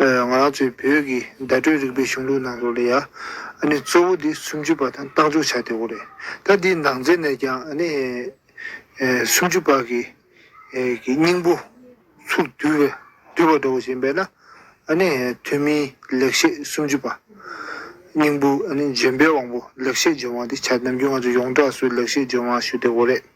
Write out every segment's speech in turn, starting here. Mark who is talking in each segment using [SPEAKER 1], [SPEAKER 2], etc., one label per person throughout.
[SPEAKER 1] ང་རང་ཚོའི་བོད་ཀྱི་བརྡ་སྤྲོད་རིག་པའི་གཞུང་ལུགས་ནང་དུ་ལ་ཡ་ཨ་ནི་གཙོ་བོ་དེ་སུམ་ཅུ་པ་དང་རྟགས་འཇོག་བྱ་དེ་བོ་རེད། ད་འདིའི་ནང་ཚན་ནས་ཀྱང་ཨ་ནི་སུམ་ཅུ་པ་གི་སྙིང་པོ་ཚུར་བསྡུ་བ་འདྲ་བོ་བྱེད་ཡིན་པས་ན་ཨ་ནི་ཐོན་མིའི་ལེགས་བཤད་སུམ་ཅུ་པ། སྙིང་པོ་ཨ་ནི་འཇོན་པའི་དབང་པོ་ལེགས་བཤད་འཇོན་དབང་དེ་བྱ་ནམ་རྒྱུན་ང་ཚོ་ཡོངས་གྲགས་སུ་ལེགས་བཤད་འཇོན་དབང་ཞུ་དེ་བོ་རེད།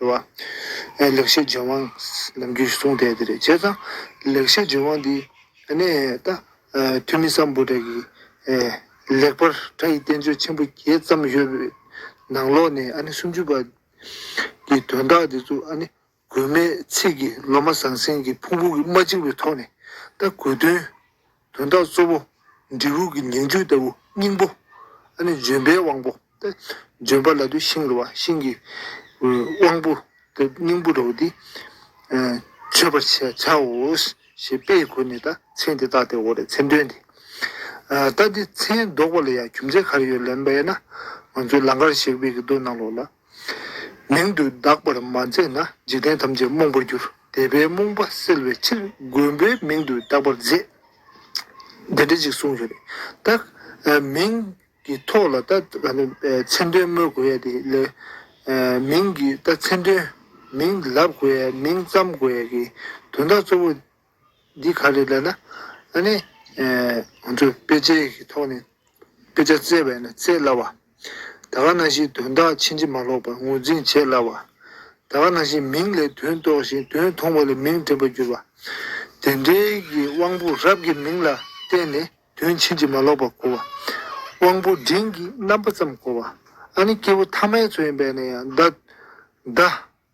[SPEAKER 1] རེད་བ། ཨེ་ལེགས་བཤད་རྗེན་དབང་ནམ་རྒྱུན་གསུང་དེ་དེ་རེད་བྱས་ཙང། ལེགས་བཤད་རྗེན་དབང་འདི་ནས་ད་འཐུས་མི་སམ་བུ་དྲ་གི། ལེགས་པར་གྲ་ཡི་བསྟན་བཅོས་ཆེན་པོ་བརྒྱད་བརྩམས་ཡོད་པའི་ནང་ལོག་ནས་ཨ་ནི་སུམ་ཅུ་པ། གི་དོན་དག་འདི་ཚོ་ཨ་ནི་དགོས་མེད་ཚིག་གི་ལོ་མ་ཟང་ཟིང་གི་ཕུང་པོ་གི་མ་གཅིག་པའི་ཐོག་ནས་ད་དགོས་དོན། དོན་དག་གཙོ་བོ། འབྲས་བུ་གྱི་ཉིང་བཅུད་ལྟ་བུ་སྙིང་པོ། ཨ་ནི་ལྗོན་པའི་དབང་པོ་སྟེ། ལྗོན་པ་ལ་དུས་ཤིང་རུ་བ་ཤིང་གི་དབང་པོ་སྟེ་སྙིང་པོ་རུ་བ་འདི་མཆོད་པར་བྱའོ། ཞེས་དཔེ་ཡི་སྒོ་ནས་ད་མཚན་དེ་བཏགས་ཏེ་འོ་རེད་མཚན་འདོན་ཏེ། ད་འདི་མཚན་འདོགས་པ་ལ་ཡང་རྒྱུ་མཚན་ག་རེ་ཡོད་ལན་སྦས་ན། ང་ཚོའི་ལང་ཀར་གཞས་དཔེ་གི་མདོ་ནང་ལོགས་ལ། མིང་དུ་གདགས་པར་མ་མཛད་ན་འཇིག་རྟེན་ཐམས་ཅད་རྨོངས་པར་འགྱུར་དད་པའི་རྨོངས་པ་སེལ་བའི་ཕྱིར་མགོན་པོའི་མིང་དུ་གདགས་པར་མཛད། དེ་འདྲ་ཅིག་གསུངས་སོ། ད་མིང་གི་ཐོག་ལ་ད་མཚན་དོན་སྨོས་དགོས་ཡ་དེ་ལས། མིང་གི་ད་མཚན་དོན་མིང་ལབ་དགོས་ཡ་མིང་བརྩམ་དགོས་ཡ་གི་དོན་དག་གཙོ་བོ་འདི་ག་ལས་ལ་ལ་ཨ་ནི། ང་ཚོས་དཔེ་ཆའི་ཐོག་ནས་དཔེ་ཆ་བཙལ་བས་ན་བཙལ་སླ་བ། ད་ག་ན་ཞིག་དོན་དག་ཕྱིན་ཅི་མ་ལོག་པར་ངོས་འཛིན་བྱེད་སླ་བ། ད་ག་ན་ཞིག་མིང་ལས་དོན་རྟོགས་ཤིང་དོན་མཐོང་བ་ལས་མིང་དྲན་པར་འགྱུར་བ། དེ་འབྲེལ་གྱི་དབང་པོ་རབ་ཀྱི་མིང་ལ་བརྟེན་ནས་དོན་ཕྱིན་ཅི་མ་ལོག་པར་གོ་བ། དབང་པོ་འབྲིང་གི་རྣམ་པ་ཙམ་གོ་བ། ཨ་ནི་སྐྱེས་བུ་ཐ་མའི་ཚོགས་ཡིན་པས་ན་ཡང་བརྡ།